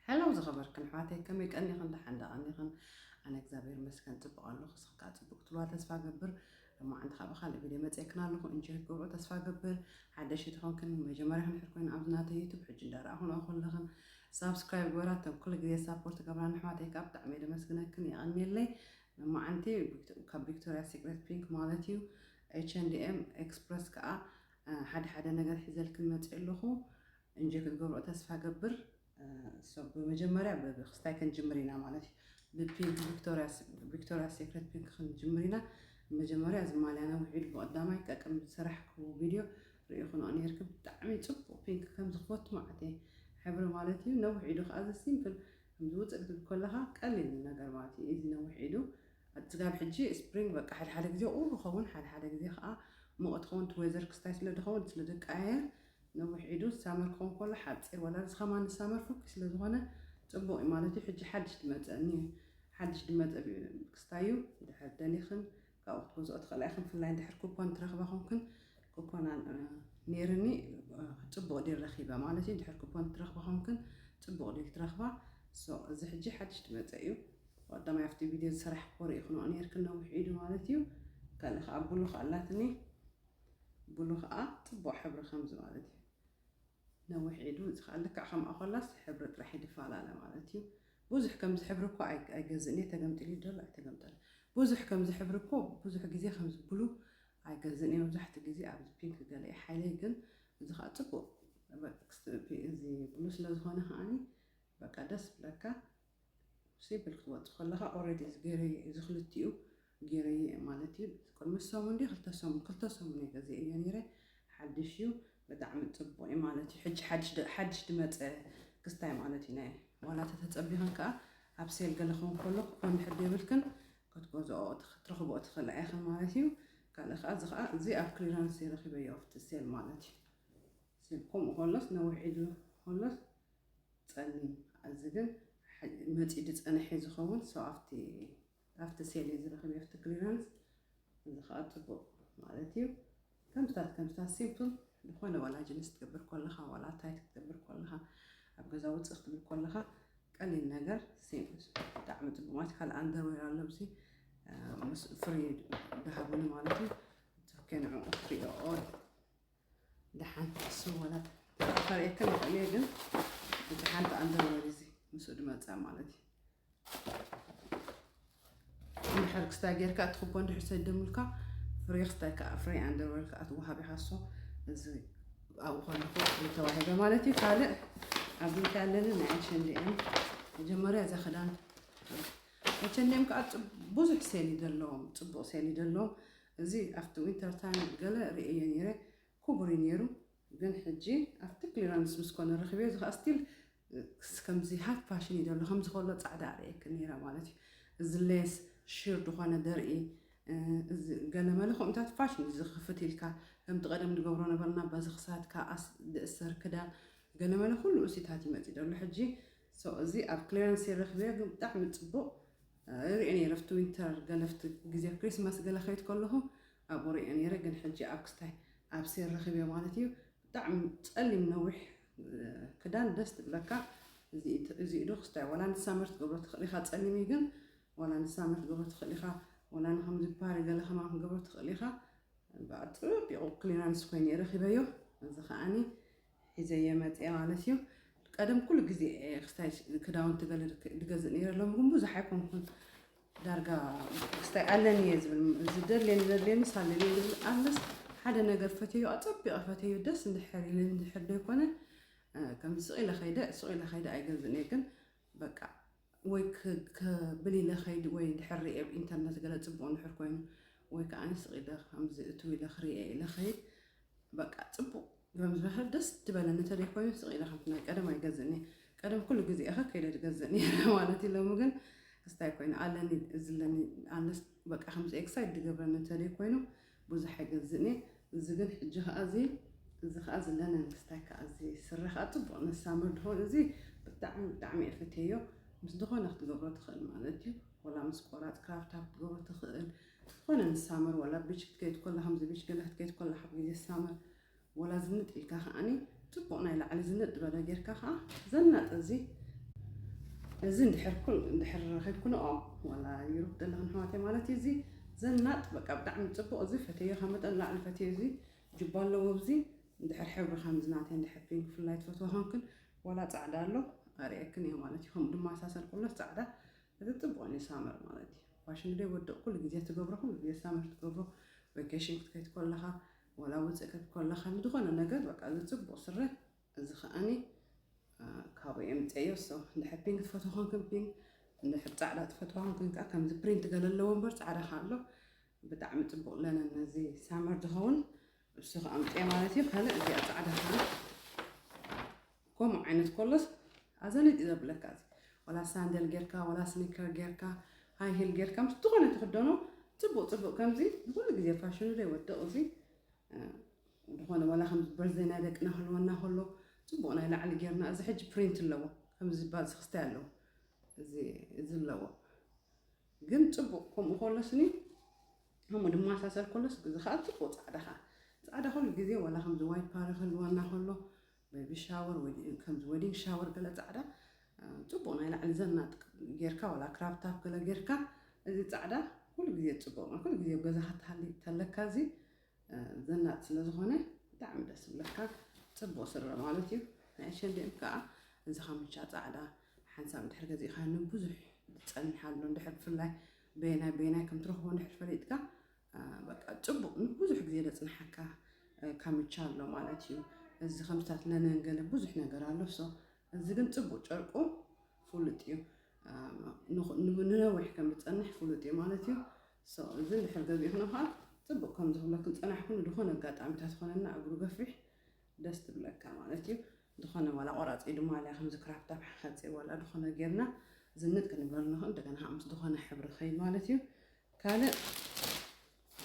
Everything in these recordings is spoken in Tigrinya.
ሀለው ዝኸበርክን ኣሕዋተይ ከመይ ቀኒኽን ደሓን ዶ ቀኒኽን ኣነ እግዚኣብሔር ይመስገን ፅቡቅ ኣለኹ እስኺ ከዓ ፅቡቅ ክትብልዋ ተስፋ እገብር ሎማዓንቲ ከዓ ብካልእ ቪድዮ መፅኤክን ኣለኹ እንጆይ ክትገብርኦ ተስፋ እገብር ሓደሽቲ ኮንክን መጀመርያኽን ድሕር ኮይኑ ኣብዚ ናተይ ዩቱብ ሕጂ እንዳረኣኹንኦ ከለኽን ሳብስክራይብ ግበራ እተን ኩሉ ግዜ ሳፖርት ትገብራን ኣሕዋተይ ከዓ ብጣዕሚ እየ ደመስግነክን የቀኒየለይ ሎማዓንቲ ካብ ቪክቶርያ ሲክሬት ፒንክ ማለት እዩ ኤች ኤንድ ኤም ኤክስፕረስ ከዓ ሓደ ሓደ ነገር ሒዘልክን መፅኤ ኣለኹ እንጆይ ክትገብርኦ ተስፋ ገብር ሶ ብመጀመርያ ብክስታይ ክንጅምር ኢና ማለት እዩ ብፒንክ ቪክቶርያ ሴክሬት ፒንክ ክንጅምር ኢና መጀመርያ እዚ ማልያና ውዒሉ ብቀዳማይ ጠቅም ዝሰራሕክዎ ቪድዮ ርኢኹንኦ ነይርክም ብጣዕሚ ፅቡቅ ፒንክ ከምዚ ክፈቱ ማለት እየ ሕብሪ ማለት እዩ ነዊሕ ኢዱ ከዓ እዚ ሲምፕል ከምዚ ውፅእ ክትብል ከለካ ቀሊል ነገር ማለት እዩ እዚ ነዊሕ ኢዱ ኣፅጋብ ሕጂ ስፕሪንግ በቃ ሓደ ሓደ ግዜ ቁሩ ኸውን ሓደ ሓደ ግዜ ከዓ ሙቐት ኸውን እቲ ዌዘር ክስታይ ስለ ድኸውን ስለ ደቀያየር ነዊሕ ኢዱ ሳመር ክኾን ኮሎ ሓጺር ወላ እዚ ከማን ንሳመር ፍኩይ ስለ ዝኾነ ጽቡቅ ዩ ማለት ዩ ሕጂ ሓድሽ ድመጸ እንሄ ሓድሽ ድመጸ ክስታይ ዩ ድሕር ደሊኽን ካብኡ ክትገዝኦ ትኽእላ ኢኽን ብፍላይ እንድሕር ኩፖን ትረኽባ ኮንክን ኩፖን ኔርኒ ጽቡቅ ዲል ረኺበ ማለት ዩ እንድሕር ኩፖን ትረኽባ ኮንክን ጽቡቅ ዲል ትረኽባ ሶ እዚ ሕጂ ሓድሽ ድመጸ ዩ ቀዳማይ ኣብቲ ቪድዮ ዝሰራሕክዎ ርኢኽንኦ ኔርክን ነዊሕ ኢዱ ማለት ዩ ካልእ ከኣ ብሉኽ ኣላትኒ ብሉ ከኣ ጽቡቅ ሕብሪ ከምዚ ማለት እዩ ነዊሕ ኢዱ እዚ ከኣ ልክዕ ከምኣ ኮላስ ሕብሪ ጥራሕ ይድፋላለ ማለት እዩ ቡዙሕ ከምዚ ሕብሪ እኮ ኣይገዝእን እየ ተገምጢሉ እዩ ደሎ ኣይተገምጠለ ቡዙሕ ከምዚ ሕብሪ እኮ ቡዙሕ ግዜ ከምዚ ብሉ ኣይገዝእን እየ መብዛሕትኡ ግዜ ኣብዚ ፒንክ ገለ እየ ሓይለይ ግን እዚ ከኣ ጽቡቅ እዚ ብሉ ስለ ዝኮነ ከኣ በቃ ደስ ብለካ ሲምፕል ክትወጽእ ከለኻ ኦረዲ እዚ ገይረዮ እየ እዚ ክልቲኡ ገይረዮ እየ ማለት እዩ ቅድሚ ሰሙን ድዩ ክልተ ሰሙን ክልተ ሰሙን እየ ገዚኤዮ ነይረ ሓድሽ እዩ ብጣዕሚ ጽቡቕ እዩ ማለት እዩ ሕጂ ሓድሽ ድመጸ ክስታይ ማለት እዩ ናይ ዋላ ተተጸቢኸን ከዓ ኣብ ሴል ገለ ክኸውን ከሎ ክኮን ድሕር ዘይብልክን ክትገዝኦ ክትረኽብኦ ትኽእላ ኢኽን ማለት እዩ ካልእ ከዓ እዚ ከዓ እዚ ኣብ ክሊራንስ ረኺበዮ ኣብቲ ሴል ማለት እዩ ሴል ከምኡ ከሎስ ነዊሕ ኢሉ ከሎስ ጸልም ኣዚ ግን ሐዚ መጺኡ ድጸንሕ እዩ ዝከውን so ኣብቲ ኣብቲ ሴል እዩ ዝረክብ ኣብቲ ክሊራንስ እዚ ከኣ ጽቡቅ ማለት እዩ ከምስታት ከምስታት ሲምፕል ዝኾነ ዋላ ጅንስ ትገብር ኮለኻ ዋላ ታይት ክትገብር ኮለኻ ኣብ ገዛ ውጽእ ክትብል ኮለኻ ቀሊል ነገር ሲምፕል ብጣዕሚ ጽቡቅ ማለት ካልእ ኣንደርዌር ኣሎ ብዚ ምስ ፍሪ ድሃቡኒ ማለት እዩ ቶኬ ንዕኡ ፍሪ ኦል ደሓን እሱ ወላ ተኸርየክን ይኽእል እየ ግን እቲ ሓንቲ ኣንደርወር እዚ ምስኡ ድመፅኣ ማለት እዩ እንድሕር ክስታይ ጌርካ እትኽቦ እንድሕር ሰደሙልካ ፍሬ ክስታይ ከዓ ፍሬ ኣንደርወር ከዓ ትወሃብ ኢኻ እሶ እዚ ኣብኡ ኮነኩ ተዋሂበ ማለት እዩ ካልእ ኣብዚ እንታይ ኣለኒ ናይ ኣሸንዲኤም መጀመርያ እዛ ክዳን ኣሸንዲኤም ከዓ ብዙሕ ሴሊ ዘለዎም ፅቡቕ ሴሊ ዘለዎም እዚ ኣብቲ ዊንተር ታይም ገለ ርእየዮ ኔረ ኩቡር እዩ ኔሩ ግን ሕጂ ኣብቲ ክሊራንስ ምስ ኮነ ረኪበዮ እዚ ከኣ ስቲል ከምዚ ሃፍ ፋሽን እዩ ዘሎ ከምዚ ከሎ ጻዕዳ ኣርእየክን ኔረ ማለት እዩ እዚ ሌስ ሺር ድኮነ ደርኢ እዚ ገለመለ ከምኡታት ፋሽን እዩ ዝክፍት ኢልካ ከምቲ ቀደም ንገብሮ ነበርና በዚ ክሳድካ ኣስ ድእሰር ክዳን ገለመለ ኩሉ እሲታት ይመጺ ደሎ ሕጂ ሶ እዚ ኣብ ክሊራንስ ረኪበዮ ግን ብጣዕሚ ጽቡቅ ሪኤ ነይረ ኣብቲ ዊንተር ገለ ኣብቲ ግዜ ክሪስማስ ገለ ክከይድ ከለኩ ኣብኡ ሪኤ ነይረ ግን ሕጂ ኣብ ክስታይ ኣብ ሴል ረኪበዮ ማለት እዩ ብጣዕሚ ጸሊም ነዊሕ ክዳን ደስ ትብለካ እዚ ዶ ክስታይ ዋላ ንሳመር ትገብሮ ትክእል ኢካ ጸሊም እዩ ግን ዋላ ንሳመር ትገብሮ ትክእል ኢካ ዋላ ንከምዚ ፓሪ ገለ ከማን ክገብሮ ትክእል ኢካ ብኣጥቢቁ ክሊራንስ ኮይኑ ረኪበዮ እዚ ከዓኒ ሒዘዮ መጽየ ማለት እዩ ቀደም ኩሉ ግዜ ክስታይ ክዳውንቲ ገለ ድገዝእ ነይረ ሎም ግን ብዙሕ ኣይኮንኩን ዳርጋ ክስታይ ኣለኒ እየ ዝብል ዝደልየኒ ዘድልየ ምስ ኣለኒ ዝብል ኣለስ ሓደ ነገር ፈትዮ ኣጸቢቐ ፈትዮ ደስ እንድሕር ኢለ እንድሕር ዘይኮነ ከምዚ ስቕ ኢለ ከይደ ስቕ ኢለ ከይደ ኣይገዝእን እየ ግን በቃ ወይ ክብል ኢለ ከይድ ወይ ድሕር ሪኤ ኣብ ኢንተርነት ገለ ጽቡቅ እንድሕር ኮይኑ ወይ ከኣ ስቅ ኢለ ከምዚ እትው ኢለ ክሪኤ ኢለ ከይድ በቃ ጽቡቅ ብምዝባህር ደስ ድበለኒ እንተደይ ኮይኑ ስቅ ኢለ ከምቲ ናይ ቀደም ኣይገዝእን እየ ቀደም ኩሉ ግዜ እኸ ከይደ ድገዝእ ነይረ ማለት እዩ ሎሚ ግን ክስታይ ኮይኑ ኣለኒ ዝለኒ ኣለስ በቃ ከምዚ ኤክሳይድ ድገብረኒ እንተደይ ኮይኑ ቡዙሕ ኣይገዝእን እየ እዚ ግን ሕጂ ከኣ እዚ እዚ ከኣ ዝለነ ምስታይ ከኣ እዚ ስረ ከኣ ጽቡቅ ን ሳምር ድኮን እዚ ብጣዕሚ ብጣዕሚ እየ ፈትየዮ ምስ ድኮነ ክትገብሮ ትክእል ማለት እዩ ወላ ምስ ቆራጽ ክራብ ታብ ክትገብሮ ትክእል ዝኮነ ን ሳምር ወላ ቢች ክትከይድ ኮላ ከምዚ ቢች ገለ ክትከይድ ኮላ ካብ ግዜ ሳምር ወላ ዝንጥ ኢልካ ከኣኒ ጽቡቕ ናይ ላዕሊ ዝንጥ ዝበለ ጌርካ ከኣ ዘናጥ እዚ እዚ እንድሕር ኩል እንድሕር ረኺብክንኦ ወላ ይሩብ ዘለኽን ኣሕዋተይ ማለት እዩ እዚ ዘናጥ በቃ ብጣዕሚ ጽቡቕ እዚ ፈተዮ ካብ መጠን ላዕሊ ፈተዮ እዚ ጅባ ኣለዎ ኣብዚ እንድሕር ሕብሪ ከምዚ ናተይ እንድሕር ፒንክ ፍላይ ትፈትዎ ኮንክን ወላ ጻዕዳ ኣሎ ኣርእየክን እየ ማለት እዩ ከምኡ ድማ ኣሳሰር ኩሎስ ጻዕዳ እዚ ጽቡቕ እዩ ሳመር ማለት እዩ ፋሽን ደ ወድቕ ኩሉ ግዜ ትገብሮ ኩሉ ግዜ ሳመር ትገብሮ ቬኬሽን ክትከይድ ከለኻ ዋላ ውጽእ ከትኮለኻ ንዝኾነ ነገር በቃ እዚ ጽቡቅ ስረ እዚ ከኣኒ ካብኡ እየ ምጸዮ ሶ እንድሕር ፒንክ ትፈትዎ ኮንክን ፒንክ እንድሕር ጻዕዳ ትፈትዋ ኮንክን ከዓ ከምዚ ፕሪንት ገለ ኣለዎ እምበር ጻዕዳ ከዓ ኣሎ ብጣዕሚ ጽቡቅ ለነን ነዚ ሳመር ዝኸውን እሱ ከዓ ምጽየ ማለት እዩ ካልእ እዚኣ ጻዕዳ ከዓ ከምኡ ዓይነት ኮሎስ ኣዘነ ድዩ ዘብለካ እዚ ዋላ ሳንደል ጌርካ ዋላ ስኒከር ጌርካ ሃይ ሂል ጌርካ ምስ ዝኾነ ትኽደኖ ጽቡቅ ጽቡቅ ከምዚ ንኹሉ ግዜ ፋሽኑ ዘይወድቕ እዚ ዝኾነ ዋላ ከምዚ በርዘይ ናይ ደቅና ክህልወና ከሎ ጽቡቅ ናይ ላዕሊ ጌርና እዚ ሕጂ ፕሪንት ኣለዎ ከምዚ ዝበሃል ዝክስታይ ኣለዎ እዚ እዚ ኣለዎ ግን ጽቡቅ ከምኡ ከሎስኒ ከምኡ ድማ ሳሰል ከሎስ እዚ ከዓ ጽቡቅ ጻዕዳ ከዓ ጻዕዳ ኩሉ ግዜ ዋላ ከምዚ ዋይት ፓሪ ክህልወና ከሎ ቤቢ ሻወር ወይ ከምዚ ወዲንግ ሻወር ገለ ጻዕዳ ጽቡቅ ናይ ላዕሊ ዘናጥ ጌርካ ዋላ ክራብ ታፕ ገለ ጌርካ እዚ ጻዕዳ ኩሉ ግዜ ጽቡቅ ነው። ኩሉ ግዜ ኣብ ገዛኻ ትሃሊ ተለካ እዚ ዘናጥ ስለ ዝኾነ ብጣዕሚ ደስ ዝብለካ ጽቡቅ ስረ ማለት እዩ። ናይ ኣሸንዲኦም ከዓ እዚ ካምቻ ጻዕዳ ሓንሳብ ድሕር ገዚእኻ ንብዙሕ ዝጸንሕ ኣሎ ድሕር ብፍላይ በየናይ በየናይ ከም ትረኽቦ ድሕር ፈሊጥካ በቃ ጽቡቅ ንብዙሕ ግዜ ዘጽንሓካ ካምቻ ኣሎ ማለት እዩ እዚ ከምታት ለነን ገለ ብዙሕ ነገር ኣሎ ሶ እዚ ግን ጽቡቅ ጨርቁ ፍሉጥ እዩ ንነዊሕ ከም ዝጸንሕ ፍሉጥ እዩ ማለት እዩ ሶ እዚ ድሕር ገዚእክና ከዓ ጽቡቅ ከም ዝብሎ ክንጸናሕኩም ዝኾነ ኣጋጣሚታት ዝኾነና እግሩ ገፊሕ ደስ ትብለካ ማለት እዩ ዝኾነ ዋላ ቆራፂ ድማ ኣልያ ከምዚ ክራፕታፕ ሓፂር ዋላ ዝኾነ ጌርና ዝንጥ ክንብለሉ ንኽእል እንደገና ምስ ዝኾነ ሕብሪ ከይድ ማለት እዩ ካልእ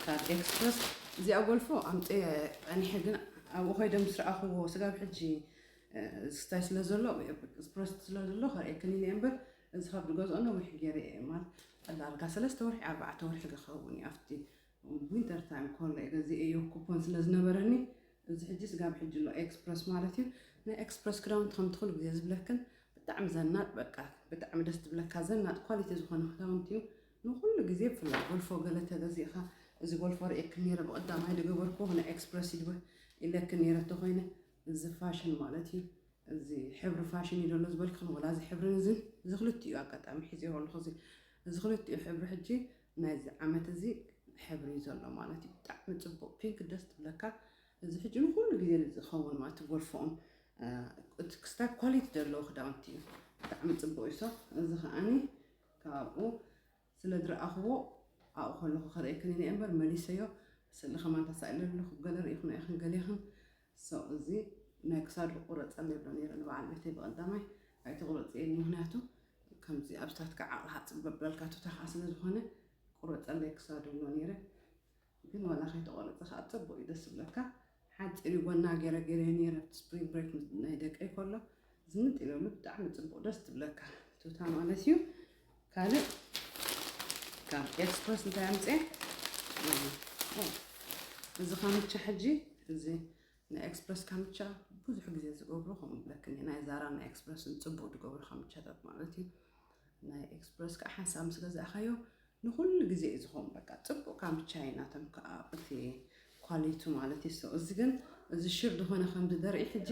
ካብ ኤክስፕረስ እዚኣ ጎልፎ ኣምጺኤ ጸኒሐ ግን ኣብኡ ከይደ ምስ ረኣኹዎ ስጋብ ሕጂ ዝስታይ ስለ ዘሎ ኤክስፕረስ ስለ ዘሎ ከርእየክን ኢለ እምበር እዚ ካብ ዝገዝኦ ነዊሕ ገይረ እየ ማለት ዳርጋ ሰለስተ ወርሒ ኣርባዕተ ወርሒ ክኸውን እዩ ኣብቲ ዊንተር ታይም ኮሎ እየ ገዚኤዮ ኩፖን ስለ ዝነበረኒ እዚ ሕጂ ስጋብ ሕጂ ኣሎ ኤክስፕረስ ማለት እዩ ናይ ኤክስፕረስ ክዳውንቲ ከምቲ ኩሉ ግዜ ዝብለክን ብጣዕሚ ዘናጥ በቃ ብጣዕሚ ደስ ትብለካ ዘናጥ ኳሊቲ ዝኾነ ክዳውንቲ እዩ ንኹሉ ግዜ ብፍላይ ጎልፎ ገለ ተገዚእካ እዚ ጎልፎ ርእየክን ኔረ ብቀዳማይ ድገበርክዎ ናይ ኤክስፕረስ ይድብህ ኢለክን ኔረ እተኾይነ እዚ ፋሽን ማለት እዩ እዚ ሕብሪ ፋሽን እዩ ዘሎ ዝበልክን ወላ እዚ ሕብርን እዝን እዚ ክልቲኡ ኣጋጣሚ ሒዜዎ ኣለኹ እዚ እዚ ክልቲኡ ሕብሪ ሕጂ ናይዚ ዓመት እዚ ሕብሪ እዩ ዘሎ ማለት እዩ ብጣዕሚ ጽቡቅ ፒንክ ደስ ትብለካ እዚ ሕጂ ንኩሉ ግዜ ዝኸውን ማለት ጎልፎኡን ክስታ ኳሊቲ ዘለዎ ክዳውንቲ እዩ ብጣዕሚ ጽቡቅ እዩ ሶ እዚ ከዓኒ ካብኡ ስለ ዝረኣኹዎ ኣብኡ ከለኹ ክርእየክን ኢለ እምበር መሊሰዮ ስእሊ ከማን ተሳኢለ ኣለኹ ገለ ርኢኹና ኢኽን ገሌኽን so እዚ ናይ ክሳዱ ክቁረጸለይ ይብሎ ነይረ ንበዓል ቤተይ ብቀዳማይ ኣይትቁረጽየኒ ምክንያቱ ከምዚ ኣብስታትካ ዓቕልካ ጽበብ በልካ ቱታ ከኣ ስለ ዝኾነ ቁረጸለይ ክሳዱ ይብሎ ነይረ ግን ዋላ ከይተቆረጸ ከኣ ጸቡቅ እዩ ደስ ዝብለካ ሓጺር እዩ ጎና ገረ ገሬዮ ነይረ ኣብቲ ስፕሪንግ ብሬክ ምስ ናይ ደቀይ ከሎ ዝንጥ ኢለሉ ብጣዕሚ ጽቡቅ ደስ ትብለካ ቱታ ማለት እዩ ካልእ ካብ ኤክስፕረስ እንታይ ኣምጽኤ እዚ ካምቻ ሕጂ እዚ ናይ ኤክስፕረስ ካምቻ ብዙሕ ግዜ ዝገብሮ ከምኡ ብለክኒ ናይ ዛራ ናይ ኤክስፕረስን ፅቡቅ ዝገብሮ ካምቻታት ማለት እዩ ናይ ኤክስፕረስ ከዓ ሓንሳብ ምስ ገዛእካዮ ንኩሉ ግዜ እዩ ዝኮን በቃ ጽቡቅ ካብ ቻይና ተም ከኣ እቲ ኳሊቱ ማለት እዩ ሰው እዚ ግን እዚ ሽር ድኮነ ከምዚ ዘርኢ ሕጂ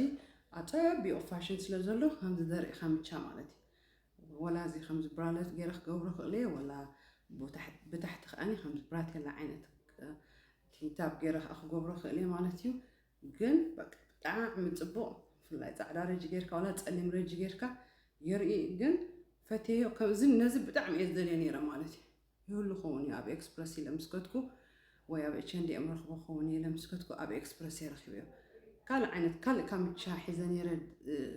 ኣጸቢቁ ፋሽን ስለ ዘሎ ከምዚ ዘርኢ ከምቻ ማለት እዩ ወላ እዚ ከምዚ ብራለት ገይረ ክገብሮ ክእል እየ ወላ ብታሕቲ ከኣ ከምዚ ብራቴላ ዓይነት ቲንታብ ገይረ ከኣ ክገብሮ ክእል እየ ማለት እዩ ግን በቃ ብጣዕሚ ጽቡቅ ብፍላይ ጻዕዳ ረጂ ጌርካ ዋላ ጸሊም ረጂ ጌርካ የርኢ ግን ፈቴዮ ከምዚ ነዚ ብጣዕሚ እየ ዝደልዮ ነይረ ማለት እዩ ይህሉ ኸውን እዩ ኣብ ኤክስፕረስ ኢለ ምስ ከትኩ ወይ ኣብ ኤችንዲኤም ረኽቦ ኸውን ኢለ ምስ ከትኩ ኣብ ኤክስፕረስ እየ ረኺበዮ ካልእ ዓይነት ካልእ ካምቻ ሒዘ ነይረ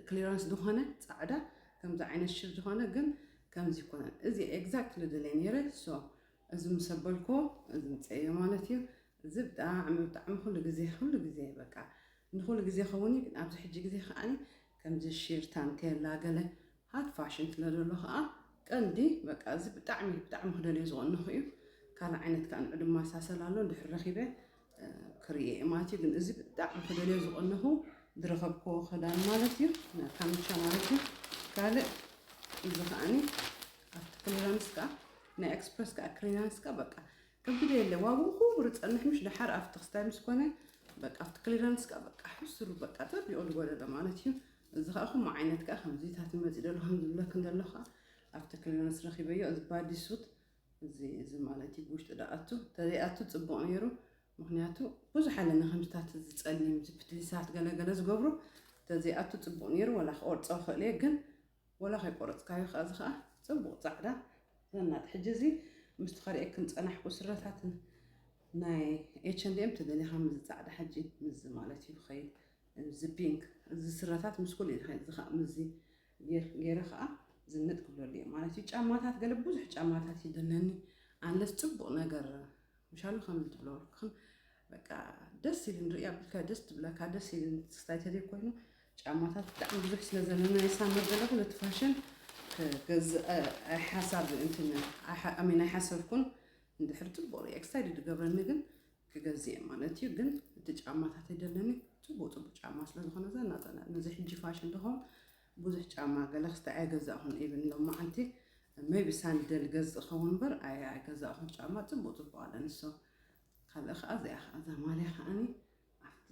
ክሊራንስ ዝኾነ ጻዕዳ ከምዚ ዓይነት ሽር ዝኾነ ግን ከምዚ ይኮነን እዚ ኤግዛክትሊ ደልየ ነይረ ሶ እዚ ምስ ኣበልኩ እዚ ምጽኤ እዮ ማለት እዩ። እዚ ብጣዕሚ ብጣዕሚ ኩሉ ግዜ ኩሉ ግዜ በቃ ንኩሉ ግዜ ክኸውን እዩ ግን ኣብዚ ሕጂ ግዜ ከኣ ከምዚ ሺር ታንቴላ ገለ ሃት ፋሽን ስለ ዘሎ ከኣ ቀልዲ በቃ እዚ ብጣዕሚ ብጣዕሚ ክደልዮ ዝቐነኹ እዩ። ካልእ ዓይነት ከኣ ንዑ ድማ ሳሰላ ኣሎ ድሕሪ ረኺበ ክርእየ እየ ማለት እዩ ግን እዚ ብጣዕሚ ክደልዮ ዝቐነኹ ዝረኸብክዎ ክዳን ማለት እዩ ካምቻ ማለት እዩ ካልእ እዚ ከዓኒ ኣብቲ ክሊራንስ ከዓ ናይ ኤክስፕረስ ከዓ ክሊራንስ ከዓ በቃ ከብድ የለ ዋግኡ ክቡር ፀንሕ ምሽ ደሓር ኣብቲ ክስታይ ምስ ኮነ በቃ ኣብቲ ክሊራንስ ከዓ በቃ ሕሱሩ በቃ ጠቢኦ ዝጎደለ ማለት እዩ እዚ ከዓ ከምኡ ዓይነት ከዓ ከምዚታት መፂእ ደሎ ከምዝብለክ እንደሎ ከዓ ኣብቲ ክሊራንስ ረኪበዮ እዚ ባዲ ሱት እዚ እዚ ማለት እዩ ብውሽጢ ዳኣቱ ተዘይኣቱ ፅቡቅ ነይሩ ምክንያቱ ብዙሕ ኣለና ከምዝታት ዝፀሊም ዝፍትሊሳት ገለገለ ዝገብሩ ተዘይኣቱ ፅቡቅ ነይሩ ወላ ክቆርፆ ይኽእል እየ ግን ወላ ከይቆረፅካዮ ከዓ እዚ ከዓ ፅቡቅ ፃዕዳ ዘናጥ ሕጂ እዚ ምስቲ ከርእየክን ፀናሕኩ ስረታት ናይ ኤችንዲኤም ተደሊኻ ምዚ ፃዕዳ ሕጂ ምዚ ማለት እዩ ክኸይድ እዚ ፒንክ እዚ ስረታት ምስ ኩሉ እዚ ከዓ ምዚ ጌር ጌረ ከኣ ዝንጥ ክብለሉ ኢየ ማለት ኢዩ ጫማታት ገለ ብዙሕ ጫማታት ይድነኒ ኣንለስ ጽቡቅ ነገር ምሻሉ ከምዚ ትብሎ ክን በቃ ደስ ኢልን ርእያ ብልካ ደስ ትብለካ ደስ ኢልን ስታይ ተዘይ ኮይኑ ጫማታት ብጣዕሚ ብዙሕ ስለ ዘለና የሳምር ዘለኹ ነቲ ፋሽን ክገዝእ ኣይሓሳብ እንትን ኣይሓ- ኣሜን ኣይሓሰብኩን እንድሕር ጽቡቅ ርእየ ክሳይ ድገብረኒ ግን ክገዝእ እየ ማለት እዩ ግን እቲ ጫማታት ደለኒ ፅቡቅ ፅቡቅ ጫማ ስለዝኾነ እዛ ናፀላ ነዚ ሕጂ ፋሽን ድኾም ብዙሕ ጫማ ገለ ክስተ ኣይገዛእኹን ኢብን ሎም መዓልቲ መይቢ ሳንደል ገዝ ዝኸውን እምበር ኣይ ኣይገዛእኹን ጫማ ፅቡቅ ፅቡቅ ኣለ ንሶ ካልእ ከዓ እዚኣ ከዓ እዛ ማልያ ከዓኒ ኣብቲ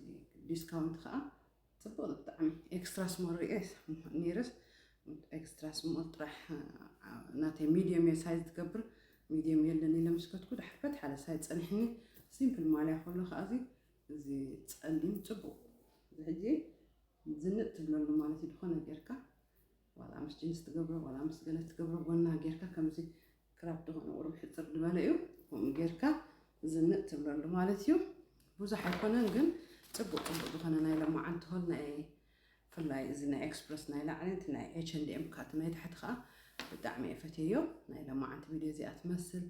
ዲስካውንት ከዓ ጽቡቅ ዩ ብጣዕሚ ኤክስትራ ስሞል ሪኤ ኔርስ ኤክስትራ ስሞል ጥራሕ ናተይ ሚድየም እየ ሳይዝ ትገብር ሚድየም የለን ኢለ ምስ ከትኩ ድሓር በት ሓደ ሳይዝ ጸኒሕኒ ሲምፕል ማልያ ከሎ ከዓ እዚ እዚ ጸሊም ጽቡቅ እዚ ሕጂ ዝንጥ ትብለሉ ማለት እዩ ድኾነ ጌርካ ዋላ ምስ ጅንስ ትገብሮ ዋላ ምስ ገለ ትገብሮ ጎና ጌርካ ከምዚ ክራፕ ዝኾነ ቁሩብ ሕጽር ዝበለ እዩ ከምኡ ጌርካ ዝንጥ ትብለሉ ማለት እዩ ብዙሕ ኣይኮነን ግን ጽቡቅ ጽቡቅ ዝኾነ ናይ ለማዓንቲ ሆል ናይ ፍላይ እዚ ናይ ኤክስፕረስ ናይ ላዕሊ እቲ ናይ ኤች ኤንድ ኤም ካቲ ናይ ታሕቲ ከዓ ብጣዕሚ እየ ፈትየዮ ናይ ለማዓንቲ ቪድዮ እዚኣ ትመስል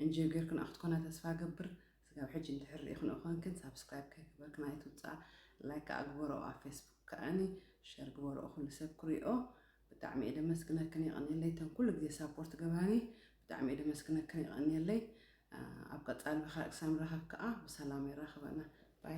እንጆ ጌርክን ክትኮና ተስፋ ገብር ስጋብ ሕጂ እንድሕር ሪኢክንኦ ኮንክን ሳብስክራይብ ከይገበርክን ኣይትውጻኣ ላይክ ከኣ ግበርኦ ኣብ ፌስቡክ ከኣኒ ሸር ግበርኦ ኩሉ ሰብ ክሪኦ ብጣዕሚ እየ ደመስግነክን የቀንየለይ እተን ኩሉ ግዜ ሳፖርት ገባኒ ብጣዕሚ እየ ደመስግነክን የቀንየለይ ኣብ ቀጻሊ ብካልእ ክሳብ ንራኸብ ከኣ ብሰላም የራኽበና ባይ